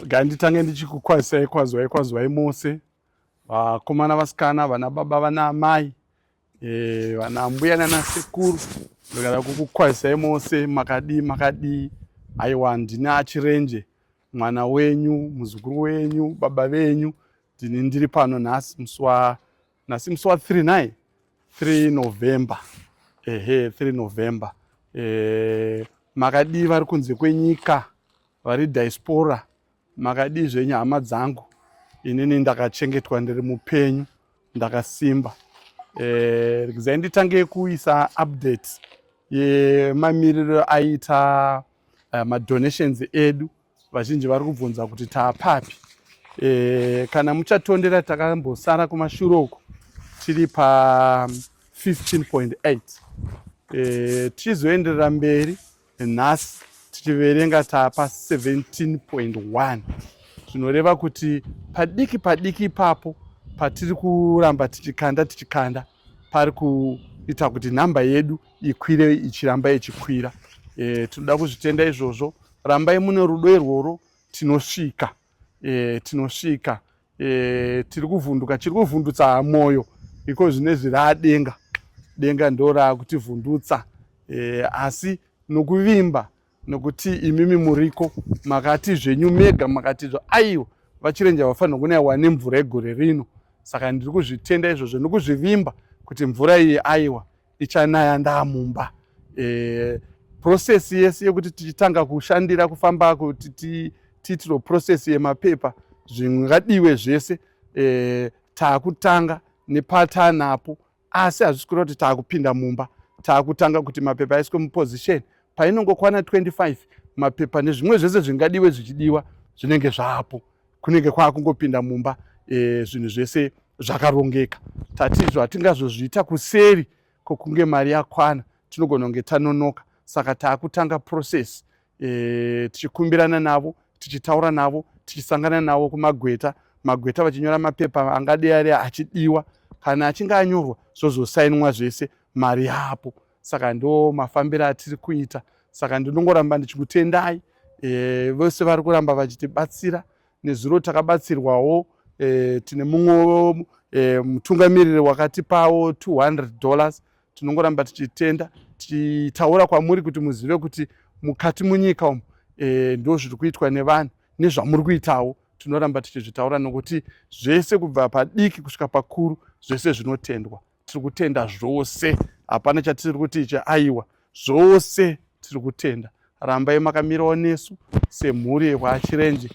Ganditange ndichikukwazisai kwazwai kwazwai mose vakomana vasikana vana baba vana amai e, vana ambuya nana sekuru ndikada kukukwazisai mose makadii makadii aiwa ndini achirenje mwana wenyu muzukuru wenyu baba venyu ndini ndiri pano nhasi musi wa nhasi musi wa 3 nai 3 november ehe 3 november e, makadii vari kunze kwenyika vari diaspora makadii zvenyu hama dzangu inini ndakachengetwa ndiri mupenyu ndakasimba e, rikizai nditange kuisa update yemamiriro aita uh, madonations edu e, vazhinji vari kubvunza kuti taapapi e, kana muchatondera takambosara kumashure uku tiri pa 15.8 e, tichizoenderera mberi nhasi tichiverenga taapa 17.1 zvinoreva kuti padiki padiki ipapo patiri kuramba tichikanda tichikanda pari kuita kuti nhamba yedu ikwire ichiramba ichikwira e, tinoda kuzvitenda izvozvo rambai mune rudo irworwo tinosvika e, tinosvika e, tiri kuvhunduka chiri kuvhundutsa mwoyo iko zvine zviradenga denga ndo raakutivhundutsa e, asi nokuvimba nokuti imimi muriko makati zvenyu mega makati zvo aiwa vachirenja vafanira kunaiwa nemvura yegore rino saka ndiri kuzvitenda izvozvo nokuzvivimba kuti mvura iyi aiwa ichanaya ndamumba e, process yese yekuti tichitanga kushandira kufamba kuti tiitiro process yemapepa zvingadiwe zvese e, taakutanga nepatanapo asi hazvisi kureva kuti taakupinda mumba taakutanga kuti mapepa aiswe muposition painongokwana 25 mapepa nezvimwe zvese zvingadiwe zvichidiwa zvinenge zvaapo kunenge kwaakungopinda mumba e, zvinhu zvese zvakarongeka tatizvo hatingazozviita kuseri kwokunge mari yakwana tinogona kunge tanonoka saka taakutanga process e, tichikumbirana navo tichitaura navo tichisangana navo kumagweta magweta vachinyora mapepa angadei ari achidiwa kana achinge anyorwa zvozosainwa zvese mari yapo saka ndo mafambiro atiri kuita saka ndinongoramba ndichikutendai e, vose vari kuramba vachitibatsira nezuro takabatsirwawo e, tine mumwe e, mutungamiriri wakatipawo 200 dollars tinongoramba tichitenda tichitaura kwamuri kuti muzive kuti mukati munyika umu e, ndo zviri kuitwa nevanhu nezvamuri kuitawo tinoramba tichizvitaura nokuti zvese kubva padiki kusvika pakuru zvese zvinotendwa tiri kutenda zvose hapana chatiri kuti ichi aiwa zvose tiri kutenda rambai makamirawo nesu semhuri yekwachirenje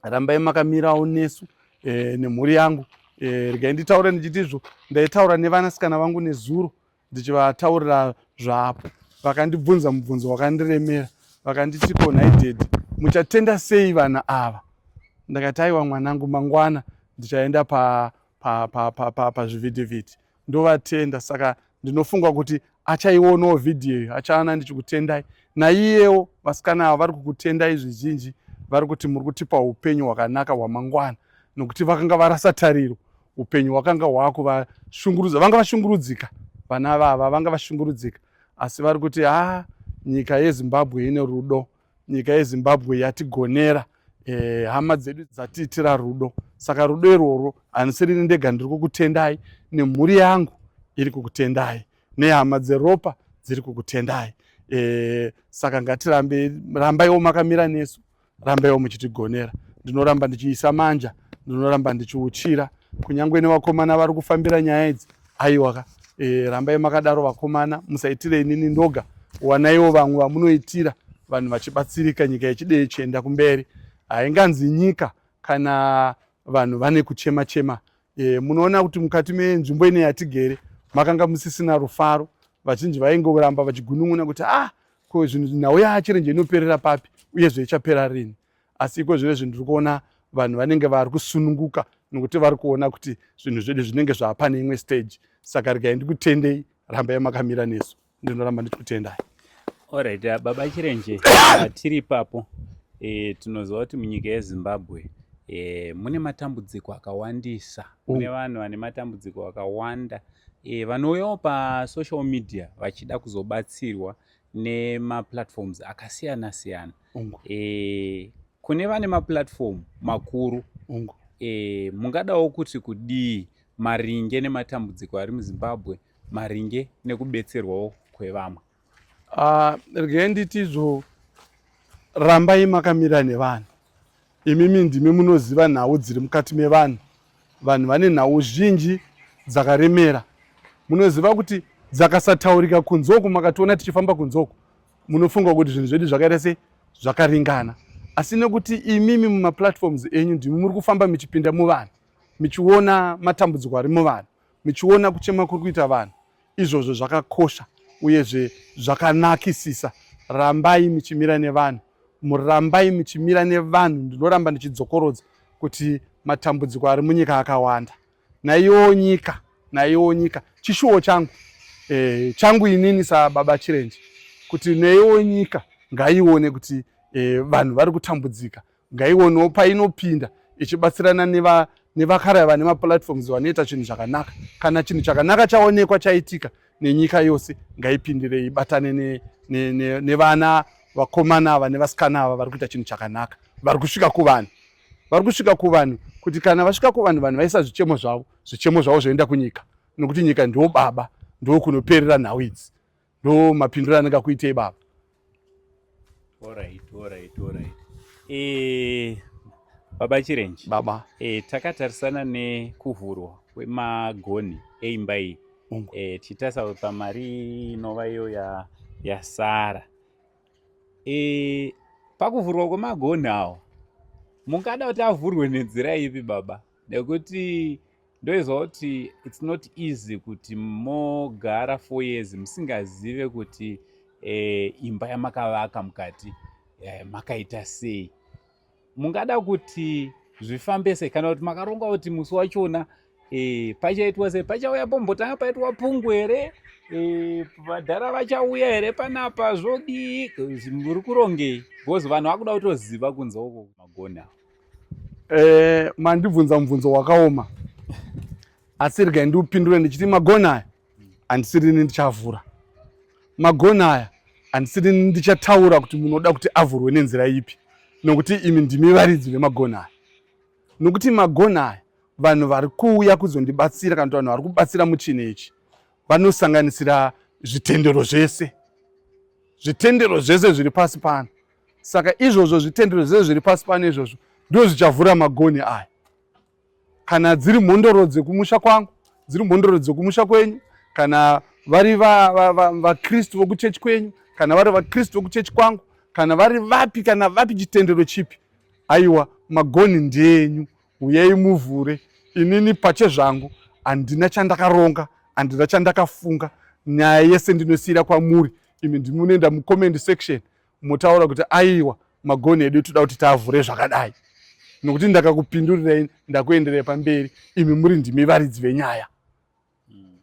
rambai makamirawo nesu e, nemhuri yangu e, regai nditaure ndichiti izvo ndaitaura nevanasikana vangu nezuro ndichivataurira zvapo vakandibvunza mubvunzo wakandiremera vakanditi ko nhai dedi muchatenda sei vana ava ndakati aiwa mwanangu mangwana ndichaenda pazvivhitivhiti pa, pa, pa, pa, pa, ndovatenda saka ndinofunga kuti achaionawo vhidhiyo iyo achaana ndichikutendai naiyewo vasikana ava vari kukutendai zvizhinji vari kuti muri kutipa upenyu hwakanaka hwamangwana nokuti vakanga varasa tariro upenyu hwakanga hwakuvashungurudza vanga vashungurudzika vana vava vanga vashungurudzika asi vari kuti haa nyika yezimbabwe ine rudo Nyika yeZimbabwe yatigonera eh, hama eh, dzedu dzatiitira rudo saka rudo irworwo handisirini ndega ndiri kukutendai nemhuri yangu iri kukutendai nehama dzeropa dziri kukutendai eh, saka ngatirambe rambaiwo makamira nesu rambaiwo muchitigonera ndinoramba ndichiisa manja ndinoramba ndichiuchira kunyange nevakomana vari kufambira nyaya idzi Aiwa ka e, rambai makadaro vakomana, musaitirei nini ndoga, wanaiwo vamwe vamunoitira vanhu vachibatsirika nyika yechidei chienda kumberi hainganzi nyika kana vanhu vane kuchema chema e, munoona kuti mukati menzvimbo ine yatigere makanga musisina rufaro vazhinji vaingoramba vachigunun'una kuti ah ko zvinhu nhau yachirenje inoperera papi uyezve ichapera rini asi iko zvinezvi ndiri kuona vanhu vanenge vari kusununguka nokuti vari kuona kuti zvinhu zvedu zvinenge zvaapane imwe stage saka regai ndikutendei rambai makamira nesu ndinoramba ndichikutendai orit uh, baba chirenje uh, tiri ipapo e, tinoziva kuti munyika yezimbabwe e, mune matambudziko akawandisa mune oh. vanhu vane matambudziko akawanda e, vanouyawo pasocial media vachida kuzobatsirwa nemaplatforms akasiyana siyana ungu e, kune vane maplatform makuru ungu e, mungadawo kuti kudii maringe nematambudziko ari muzimbabwe maringe nekubetserwawo kwevamwe ah, rege nditizvo rambai makamira nevanhu imimi ndimi munoziva nhau dziri mukati mevanhu vanhu vane nhau zhinji dzakaremera munoziva kuti dzakasataurika kunzoku makationa tichifamba kunzoku munofunga kuti zvinhu zvedu zvakaita se zvakaringana asi nekuti imimi mumaplatforms enyu ndimi muri kufamba michipinda muvanhu michiona matambudziko ari muvanhu michiona kuchema kuri kuita vanhu izvozvo zvakakosha uyezve zvakanakisisa rambai michimira nevanhu murambai michimira nevanhu ndinoramba ndichidzokorodza kuti matambudziko ari munyika akawanda naiyowo nyika naiyowo nyika chishuwo changu e, changu inini sababa chirenje kuti neiwo nyika ngaione kuti e, vanhu vari kutambudzika ngaionewo painopinda ichibatsirana neva nevakaraya vane maplatforms vanoita chinhu zvakanaka kana chinhu chakanaka chaonekwa chaitika nenyika yose ngaipindire ibatane nevana ne, ne, ne vakomana ava nevasikana ava vari kuita chinhu chakanaka vari kusvika kuvanhu vari kusvika kuvanhu kuti kana vasvika kuvanhu vanhu vaisa zvichemo zvavo zvichemo zvavo zvoenda kunyika nokuti nyika ndo baba ndo kunoperera nhau idzi ndo mapindiro anenge akuitei baba Alright, alright, alright. E, baba chirenji baba e, takatarisana nekuvhurwa kwemagoni eimba iyi e, tichitasa pamari inova iyo yasara ya E, pakuvhurwa kwemagonhi awo mungada kuti avhurwe nenzira ipi baba nekuti ndoizwa kuti its not easy kuti mogara four years musingazive kuti e, imba yamakavaka mukati e, makaita sei mungada kuti zvifambe sei kana kuti makaronga kuti musi wachona e, pachaitwa sei pachauya pombotanga paitwa pungu here e, vadhara vachauya here panapa zvodii muri kurongei bcause vanhu vakuda kutoziva kunze uko magoni avo e, mandibvunza mubvunzo wakaoma asi regai ndiupindure ndichiti magoni aya handisirini ndichavhura magona aya handisirini ndichataura kuti munoda kuti avhurwe nenzira ipi nokuti imi ndimi varidzi vemagona aya nokuti magona aya vanhu vari kuuya kuzondibatsira kana kuti vanhu vari kubatsira muchini ichi vanosanganisira zvitendero zvese zvitendero zvese zviri pasi pano saka izvozvo zvitendero zvese zviri pasi pano izvozvo ndozvichavhura magoni aya kana dziri mhondoro dzekumusha kwangu dziri mhondoro dzekumusha kwenyu kana vari vakristu vokuchechi kwenyu kana vari vakristu vokuchechi kwangu kana vari vapi kana vapi chitendero chipi aiwa magoni ndeenyu huyai muvhure inini pache zvangu handina chandakaronga handina chandakafunga nyaya yese ndinosiyira kwamuri imi ndimunoenda mucomment section motaura kuti aiwa magonhi edu toda kuti tavhure zvakadai nokuti ndakakupindurirai ndakuenderai pamberi imi muri ndimi varidzi venyaya hmm.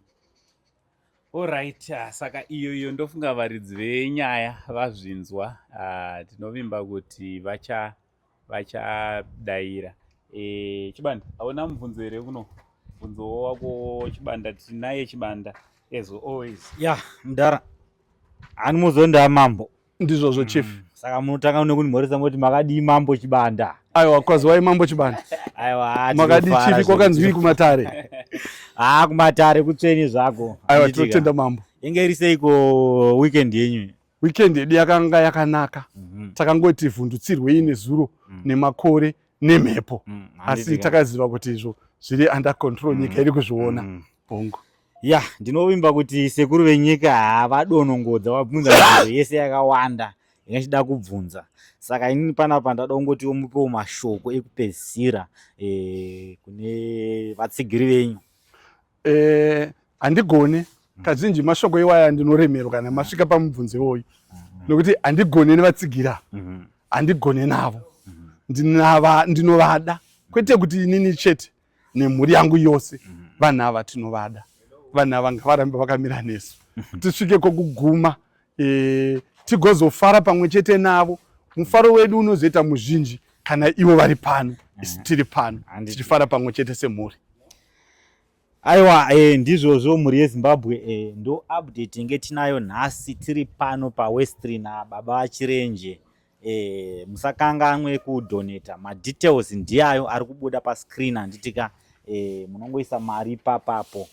orit ah, saka iyo iyo ndofunga varidzi venyaya vazvinzwa ah, tinovimba kuti vacha vachadaira e, chibanda hauna mubvunzo here kuno bvunzowo wako chibanda tinaye chibanda as always ya yeah, mdara hani muzondaa mambo ndizvozvo mm. chief saka munotanga kunimhoresa moti makadii mambo chibanda aiwa kwazi wai mambo chibanda aiwa makadii chief kwakanzwii kumatare haa ah, kumatare kutsveni zvako aiwa tinotenda mambo inge iri seiko weekend yenyu weekend yedu yakanga yakanaka mm -hmm. takangoti vhundutsirwei nezuro mm -hmm. nemakore nemhepo mm -hmm. asi takaziva kuti izvo zviri under control nyika mm -hmm. iri kuzviona mm -hmm. bongo ya yeah, ndinovimba kuti sekuru venyika havadonongodza vabvunza mibvunzo yese yakawanda ingachida kubvunza saka inini panapa ndada kungotiwo mupewo mashoko ekupedzisira e, kune vatsigiri venyu Eh, handigone kazhinji mashoko iwaya ndinoremerwa kana masvika pamubvunzo iwoyu nokuti handigone nevatsigira handigone navo ndinava ndinovada kwete kuti inini chete nemhuri yangu yose vanhu ava tinovada vanhu ava ngavarambe vakamira nesu tisvike kokuguma e, tigozofara pamwe chete navo mufaro wedu unozoita muzhinji kana ivo vari pano isu tiri pano tichifara pamwe chete semhuri aiwa e, ndizvozvo mhuri yezimbabwe e, ndo update inge tinayo nhasi tiri pano pawestrin baba vachirenje Eh, musakanganwe kudoneta madetails ndiyayo ari kubuda pascreen handitika eh, munongoisa mari papapo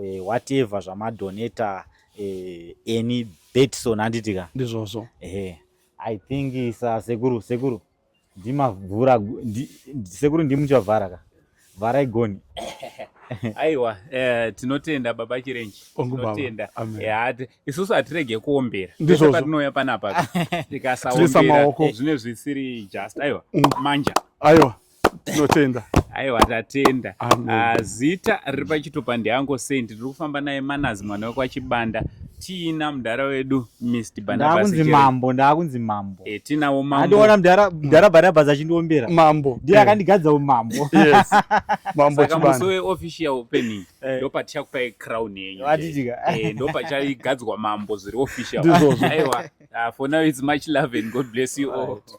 eh, whatever zvamadoneta eh, any betson handitika ndizvozvo eh, i think sa sekuru sekuru ndimavhura sekuru ndimuchavhara ka vharai goni aiwa eh, tinotenda baba chirenji tinotenda eh, isusu hatirege kuombera ndizvo patinouya panapa tikasaombera zvine zvisiri just aiwa mm. manja aiwa tinotenda aiwa tatenda ah, zita riri pachitopandi ango sendi tiri kufamba naye manazi mwana wekwachibanda Tina mdara wedu Mr Barnabas. Ndakunzi mambo, ndakunzi mambo. Eh, Tina wo mambo. Andiona mdara mdara Barnabas achindiombera. Mambo. Ndiye eh. akandigadza umambo. Yes. Mambo chibanda. Saka musowe official opening. Eh. Ndo paticha kupa crown yenyu. Vatijika. Eh, ndo pacha igadzwa mambo zviri official. Ndizvo. Aiwa. Uh, for now it's much love and God bless you all. Right.